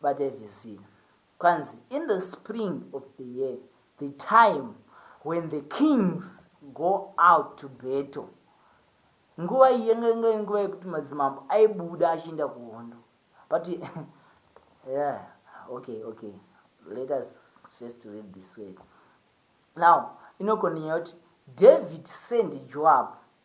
Batai vhesi zvino. Kwanzi, In the spring of the year, the time when the kings go out to battle, nguva iyi yanga inga nguva yekuti madzimambo aibuda achienda kuhondo. But, yeah, okay, okay. Let us first read this way. Now, inokona nyaya kuti David sent Joab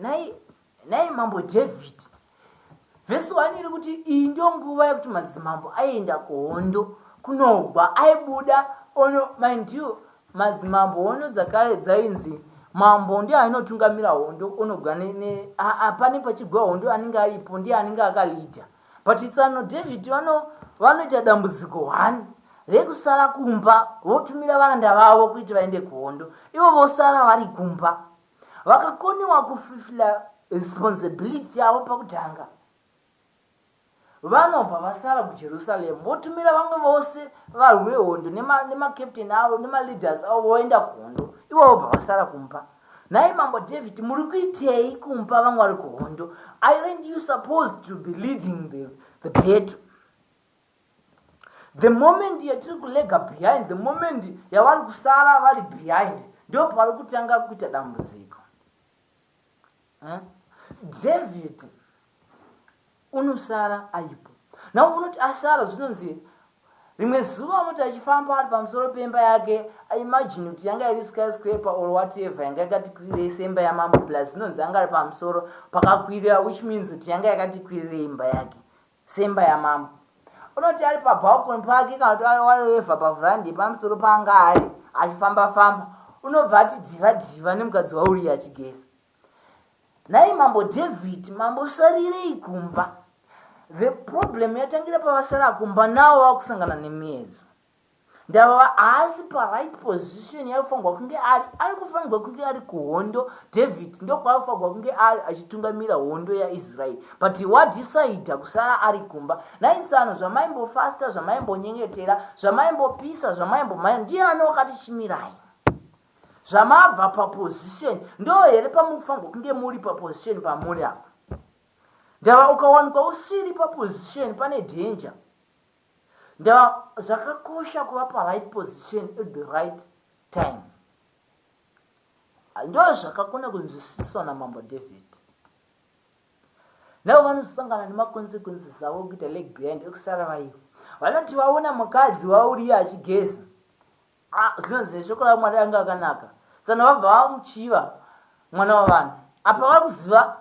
Nhai, nhai mambo David. Vhesi 1 iri kuti iyi ndiyo nguva yekuti madzimambo aienda kuhondo kunogwa aibuda ono mind you madzimambo hondo dzakare dzainzi mambo ndiye ainotungamira hondo onogwa apane pachigwa hondo anenge aripo ndiye anenge akalidha but tsano david vano vanoita dambudziko one rekusara kumba votumira varanda vavo kuti vaende kuhondo ivo vosara vari kumba Vakakoniwa kufifila responsibility yavo pakutanga, vanobva vasara kuJerusalem votumira vamwe vose varwi vehondo nemakapteni nema avo nemaleaders avo voenda kuhondo, ivo vobva vasara kumba. Nhai mambo David, muri kuitei kumba vamwari kuhondo? Aren't you supposed to be leading the, the battle? The moment yatiri kulega behind, the moment yavari kusara vari behind, ndipo pavari kutanga kuita dambudziko. Eh? David unosara aripo. Now unoti asara zvinonzi rimwe zuva unoti achifamba ari pamusoro pemba yake imagine kuti yanga iri skyscraper or whatever yanga yakati kwirirei semba yamambo plus zvinonzi yanga ari pamusoro pakakwirira which means kuti yanga yakati kwirirei imba yake Semba yamambo. Unoti ari pabalcony pake kana kuti waiwevha paveranda yepamusoro paanga ari achifamba famba. Unobva ati dhiva dhiva nemukadzi wauriya achigeza. Nhai mambo David, mambo sarirei kumba. The problem yatangira pavasara kumba nawo vakusangana nemiedzo. Ndababa haasi paright position yaifanirwa kunge ari aikufanirwa kunge ari kuhondo David ndokwaifanirwa kunge ari achitungamira hondo yaIsrael but wadisaidha kusara ari kumba nhai tsano zvamaimbofasta zvamaimbonyengetera zvamaimbopisa zvamaimbomhanya ndiani wakati chimirai zvamabva paposition ndo here pamufanirwa kunge muri paposition pamuri apa ndava ukawanikwa usiri paposition pane danger Nda zvakakosha kuva pa right position at the right time. Ndo zvakakona kunzwisiswa na Mambo David. Navo vanosangana ne ma consequences avo kuita leg behind ekusara vaiva. Vanoti vaona mukadzi wauriya achigeza. Haa zvinonzi shoko raMwari anga akanaka tsano vabva vamuchiva mwana wavanhu apa vari kuziva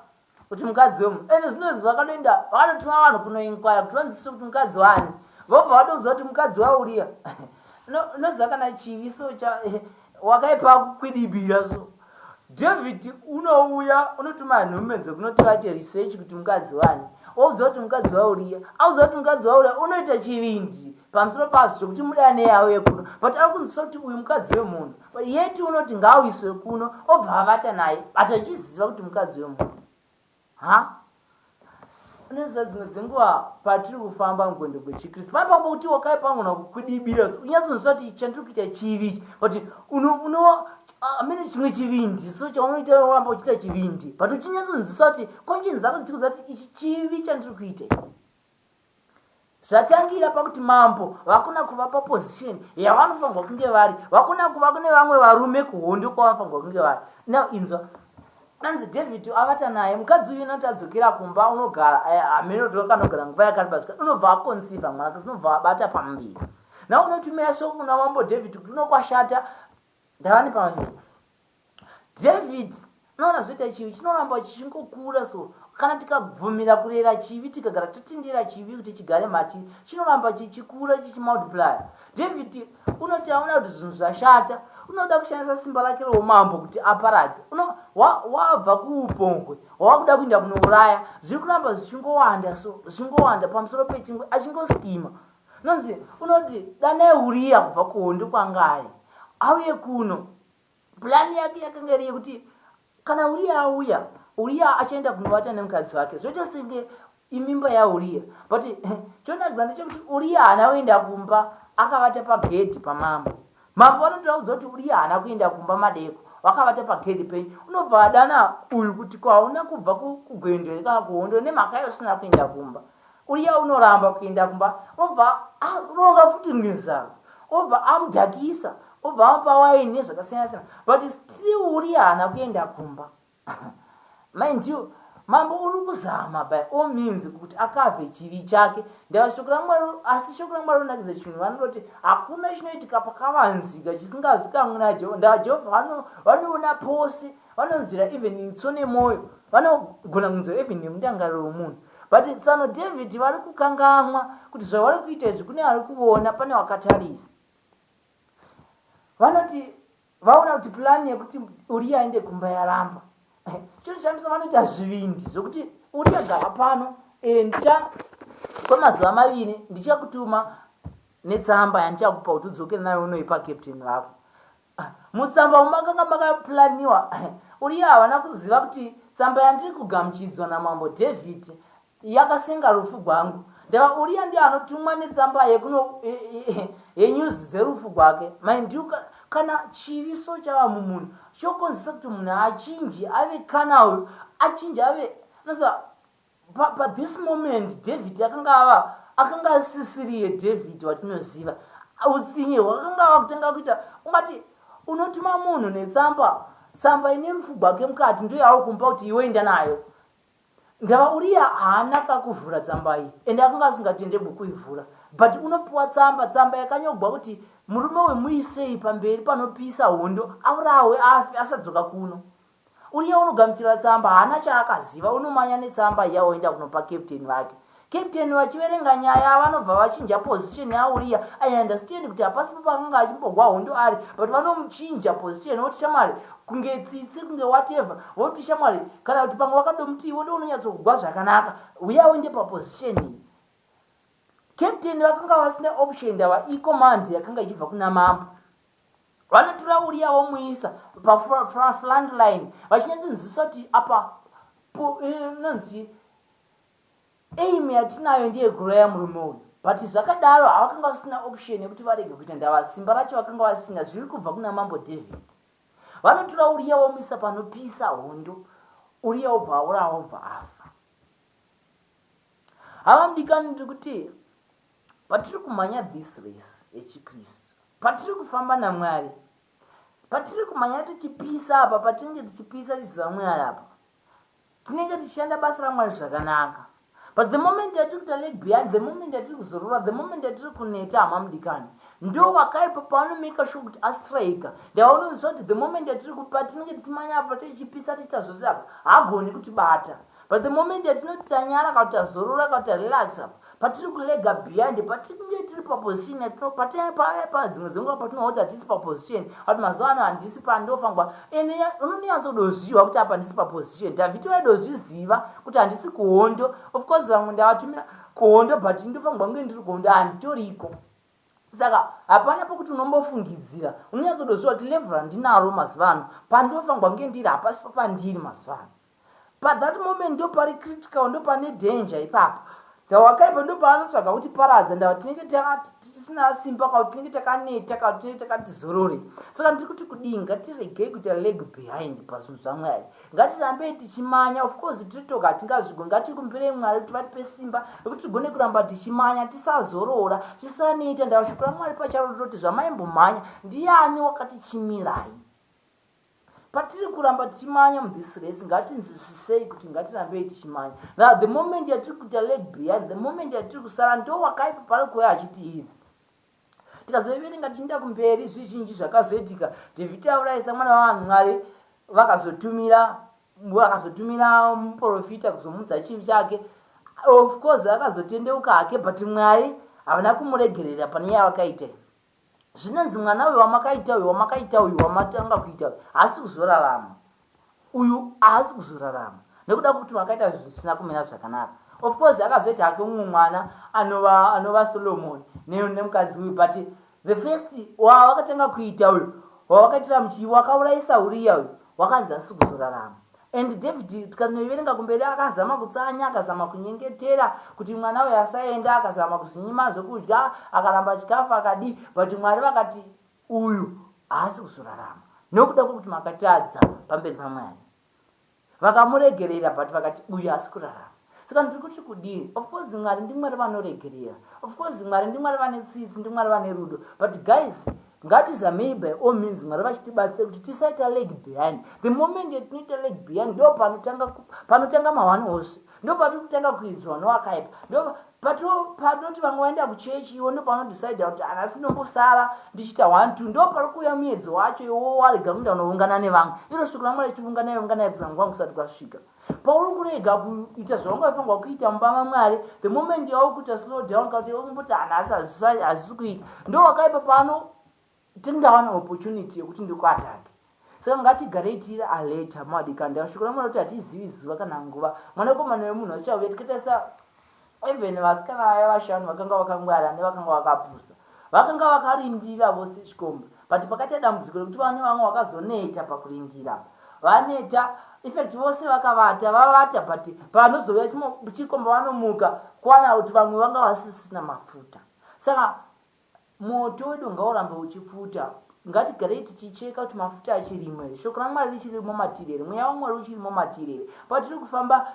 kuti mukadzi wemunhu ende zvinonzi vakanoenda vakanotuma vanhu kunoinkwaya kuti vanzwisise kuti mukadzi waani vobva vatoudzwa kuti mukadzi wauriya no, nozakana chivi so cha, wakaipa kukwidibira so David unouya unotuma nhume dzekunoti vaite research kuti mukadzi wani waudzwa kuti mukadzi wauriya audzwa kuti mukadzi wauriya unoita chivindi pamusoro pazvo chokuti mudane yauye kuno but ari kunzwisa kuti uyu mukadzi wemunhu yeti unoti ngaawiswe kuno obva avata naye but achiziva kuti mukadzi wemunhu Haa unoziva dzimwe dzenguva patiri kufamba mugwendo gwechikristu pane pamba kuti wakai pangona kukwidibira so unyatsonzwa kuti chandiri kuita chivi ichi but unova amene chimwe chivindi so chaunoita ramba uchiita chivindi but uchinyatsonzwiswa kuti conscience dzako dziri kuziva kuti ichi chivi chandiri kuita Zvatangira pakuti mambo vakona kuva paposition yavanofanirwa kunge vari vakona kuva kune vamwe varume kuhondo kwavanofanirwa kunge vari now inzwa anzi david avata naye mukadzi uyu nati adzokera kumba unogara eh, hameno kuti wakanogara nguva yakareba zvika unobva akonsiva mwana kuti unobva abata pamuviri na unotumira soko kuna mambo david kuti unokwashata ndava nepamuviri David, Unoona, zvoita chivi chinoramba chichingokura so. Kana tikabvumira kurera chivi, tikagara totendera chivi kuti chigare matiri, chinoramba chichikura chichimultiplier. David, Unoti aona kuti zvinhu zvashata, unoda kushandisa simba rake roumambo kuti aparadze. Uno, wa, wabva kuupombwe, wava kuda kuinda kunouraya. Zviri kuramba zvichingowanda so, zvichingowanda pamusoro pechingwe, achingoskima. Nonzi, unoti, danai Uriya kubva kuhondo kwanga ari, auye kuno. Plan yake yakanga iri yekuti kana Uriya auya, Uriya achaenda kunovata nemukadzi wake. Zvoita senge imimba yaUriya. But chonakidza ndechekuti Uriya haana kuenda kumba, akavata pagedhi pamambo. Mambo vanoti vaudza kuti Uriya haana kuenda kumba madeko, wakavata pagedhi penyu. Unobva adana uyu kuti kwauna kubva kugwendo here kana kuhondo nemhaka yausina kuenda kumba. Uya unoramba kuenda kumba obva aronga futi rimwe zano obva amujakisa obva amupa waini nezvakasiyana siyana but still uriya haana kuenda kumba mind you mambo uri kuzama by all means kuti akave chivi chake ndava shoko ramwari asi shoko ramwari rinakidza chinhu vanoti hakuna chinoitika pakavanzika chisingazikamwe najehovha ndava jehovha vanoona pose vanonzwira even itso nemwoyo vanogona kunzwira even nemundangariro wemunhu But tsano David vari kukangamwa kuti zvavari kuita izvi kune ari kuvona pane wakatarisa. Vanoti vaona kuti plan yekuti Uriya aende kumba yaramba. Choshamisa vanoti hazvivindi zvokuti Uriya gara pano enda kwemazuva maviri ndichakutuma netsamba yandichakupa kuti udzokere nayo unoipa captain vako. Ah, mutsamba umu makanga makaplaniwa uriye havana kuziva kuti tsamba yandiri kugamuchidzwa namambo david yakasenga rufu gwangu ndava uriya ndiye anotumwa netsamba yekuno yenyuzi dzerufu gwake maindiu kana chivi so chava mumunhu chokonzesa kuti munhu achinji ave kana uyu achinji ave nosa Pa, pa this moment David akanga ava, akanga asisiriye David watinoziva. Utsinye hwakanga ava kutanga kuita, ungati unotuma munhu netsamba, tsamba ine rufu gwake mukati, ndiyo yauri kumupa kuti iwe enda nayo. Ndava Uriya haana kakuvhura tsamba iyi, ende akanga asingatenderwi kuivhura. But unopiwa tsamba, tsamba yakanyogwa kuti murume uyu muisei pamberi panopisa hondo, aurawe afe asadzoka kuno. Uya unogamuchira tsamba haana chaakaziva unomanya netsamba iya oenda kunopa captain vake. Captain vachiverenga nyaya vanobva vachinja position yaUria. I understand kuti hapasipo paakanga achimbogwa hondo ari but vanomuchinja position voti shamwari kunge tsitsi kunge whatever voti shamwari kana kuti pamwe vakadomuti ivo ndounonyatsogwa zvakanaka uya uende paposition iyi. Captain vakanga vasina option ndava icommand yakanga ichibva kuna mambo. Vanotora Uria vomuisa pafront line vachinyatsinzwisisa kuti apa inonzi eh, aim yatinayo ndiye kuuraya murume uyu but zvakadaro havakanga vasina option yekuti varege kuita ndava simba racho vakanga vasina zviri kubva kuna mambo david vanotora uriya womisa panopisa hondo uriya wobva aura wobva afa havamdikani ndiri kuti Patiri kumhanya this race yechiKristu, patiri kufamba naMwari, patiri kumhanya tichipisa apa, patinenge tichipisa tiziva Mwari apa, tinenge tichishanda basa raMwari zvakanaka. But the moment yatiri kuita leg behind, the moment yatiri kuzorora, the moment yatiri kuneta, hama mudikani, ndo wakaipa paanomaker sure kuti astriker ndavaononzwa kuti the moment yatiri kupa tinenge tichimanya apa tichipisa tiita zvose apa hagoni kutibata but the moment yatinoti tanyara ka kuti tazorora ka kuti tarelax apa Patiri kulega behind patiri kunge tiri paposition yatino patinenge pave padzimwe dzenguva patinoona kuti hatisi paposition ati mazuva ano handisi pandofa nguva ene unonyatsodoziva kuti apa ndisi paposition dhavhiti vaidozviziva kuti handisi kuhondo of course vamwe ndavatumira kuhondo but ndofa nguva kunge ndiri kuhondo handitoriko saka hapana pokuti unombofungidzira unonyatsodoziva kuti level randinaro mazuva ano pandofa nguva kunge ndiri hapasi papandiri mazuva ano Pa that moment ndopari critical ndopane danger ipapo. Ndawakaipa ndopaanotsvaga kuti paradza ndava tinenge tisina simba ka kuti tinenge takaneta ka kuti tinenge takati zorore. Saka ndiri kuti kudii ngatiregei kuita leg behind pazvinhu zvaMwari. Ngatirambei tichimanya of course tiri toga hatingazvigoni ngatikumbirei Mwari kuti vatipe simba rekuti tigone kuramba tichimanya tisazorora tisaneta ndava shoko raMwari pacharo rinoti zvamaimbomhanya ndiani wakatichimirai. Patiri kuramba tichimanya mu this race ngatinzwisisei kuti ngatirambei tichimanya now the moment yatiri kuita leg behind the moment yatiri kusara ndo wakaipa pari kuuya achitiidzi tikazoiverenga tichienda kumberi zvizhinji zvakazoitika devitaurai samwana vavanhu mwari vakazotumira vakazotumira muprofita kuzomudza chivi chake of course akazotendeuka hake but mwari havana kumuregerera pane yavakaita zvinonzi mwana uyu wamakaita uyu wamakaita uyu wamatanga kuita uyu haasi kuzorarama uyu haasi kuzorarama nekuda kwekuti makaita zvisina kumira zvakanaka of course akazoita hake umwe mwana anova anova solomon nemukadzi uyu but the first wawakatanga kuita uyu wawakaitira muchii wakaurayisa uriya uyu wakanzi haasi kuzorarama And David tikanoiverenga kumberi akazama kutsanya akazama kunyengetera kuti mwana uyu asaenda akazama kuzvinyima zvekudya akaramba chikafu akadii but Mwari vakati uyu haasi kuzorarama nokuda kwekuti makatadza pamberi paMwari vakamuregerera but vakati uyu haasi kurarama. Saka ndiri kuti kudii? Of course Mwari ndiMwari vanoregerera. Of course Mwari ndiMwari vane tsitsi, ndiMwari vane rudo. But guys, ngatizamei by all means Mwari vachitibatsira kuti tisaita leg behind. The moment yatinoita leg behind ndo panotanga panotanga mahwani ose. Ndo patiri kutanga kuidzwa nowakaipa. Ndo patoti vamwe vaenda kuchechi iwo ndo panodecide kuti anasi ndombosara ndichiita one two ndo pari kuuya muedzo wacho iwo warega kuenda kunoungana nevamwe iro shoko ramwari tiungana iungana yekuza nguva kusati kwasvika Pauri kurega kuita zvawangafangwa kuita mubama Mwari, the moment yauri kuita slow down ka kuti umboti ana hazisi kuita. Ndo wakaipa pano tindawana opportunity yekuti ndikuatange. Saka ngatigarei tiri alert hama wadikani. Ndashukura Mwari kuti hatizivi zuva kana nguva. Mwanakomana wemunhu achauya tikatarisa Even vasikana vaya vashanu vakanga vakangwara hande vakanga vakapusa. Vakanga vakarindira vose chikomba but pakaita dambudziko rekuti vane vamwe vakazoneta pakurindira apa. Vaneta infact vose vakavata vavata but panozouya chikomba vanomuka kuwana kuti vamwe vanga vasisina mafuta. Saka moto wedu ngaurambe uchipfuta. Ngatigarei tichicheka kuti mafuta achirimo here. Shoko raMwari richirimo matiri here. Mweya waMwari uchirimo matiri here. Patiri kufamba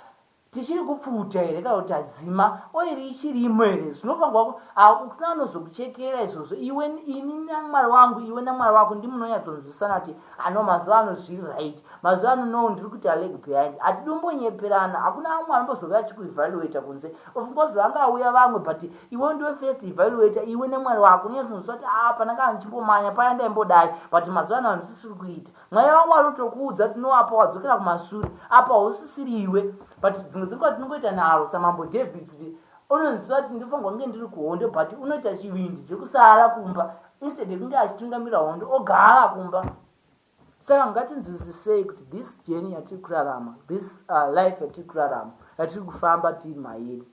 Tichiri kupfuta here kana kuti adzima oiri ichirimo here zvinofanirwa ku hakuna anozokuchekera izvozvo iwe ini naMwari wangu iwe naMwari wako ndimi munonyatsonzwisana kuti ano mazuva ano zviri right mazuva ano no ndiri kuita leg behind hatidi kumbonyeperana hakuna amwe anombozouya achikuevaluator kunze of course vangauya vamwe but iwe ndiwe first evaluator iwe naMwari wako unonyatsonzwisana kuti aa ah, pandanga ndichimbomanya paya ndaimbodai but mazuva ano handisisiri kuita Mweya waMwari utokuudza kuti no apa wadzokera kumasure apa hausisiri iwe but dzimwe dzenguva tinongoita nharo samambo David kuti unonziva kuti ndofanirwa kunge ndiri kuhondo but unoita chivindi chekusara kumba instead yekunge achitungamira hondo ogara kumba saka ngatinzwisisei kuti this journey yatiri kurarama this uh, life yatiri kurarama yatiri kufamba tiri mairi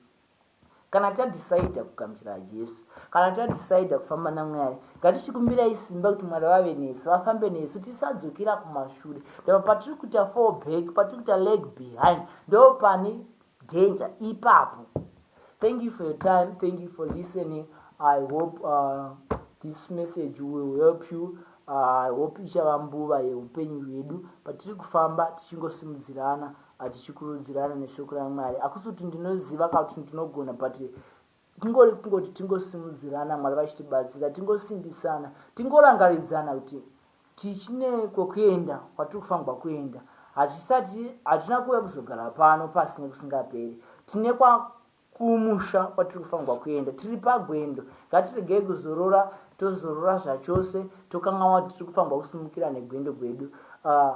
Kana tadecider kugamuchira Jesu, kana tadecider kufamba naMwari, ngatichikumbirai simba kuti Mwari vave nesu, vafambe nesu, tisadzokera kumashure. Ndipo patiri kuita fall back, patiri kuita leg behind, ndipo pane danger ipapo. Thank you for your time, thank you for listening. I hope uh, this message will help you. Uh, I hope ichava mbuva yeupenyu hwedu patiri kufamba tichingosimudzirana a tichikurudzirana neshoko ramwari hakusi kuti ndinoziva ka kuti ndinogona but kungori kungoti tingosimudzirana mwari vachitibatsira tingosimbisana tingorangaridzana kuti tichine kwokuenda kwatiri kufanirwa kuenda hatisati hatina kuuya kuzogara pano pasi nekusingaperi tine kwakumusha kwatiri kufanirwa kuenda tiri pagwendo ngatiregei kuzorora tozorora zvachose tokanganwa kuti tiri kufanirwa kusimukira negwendo gwedu uh,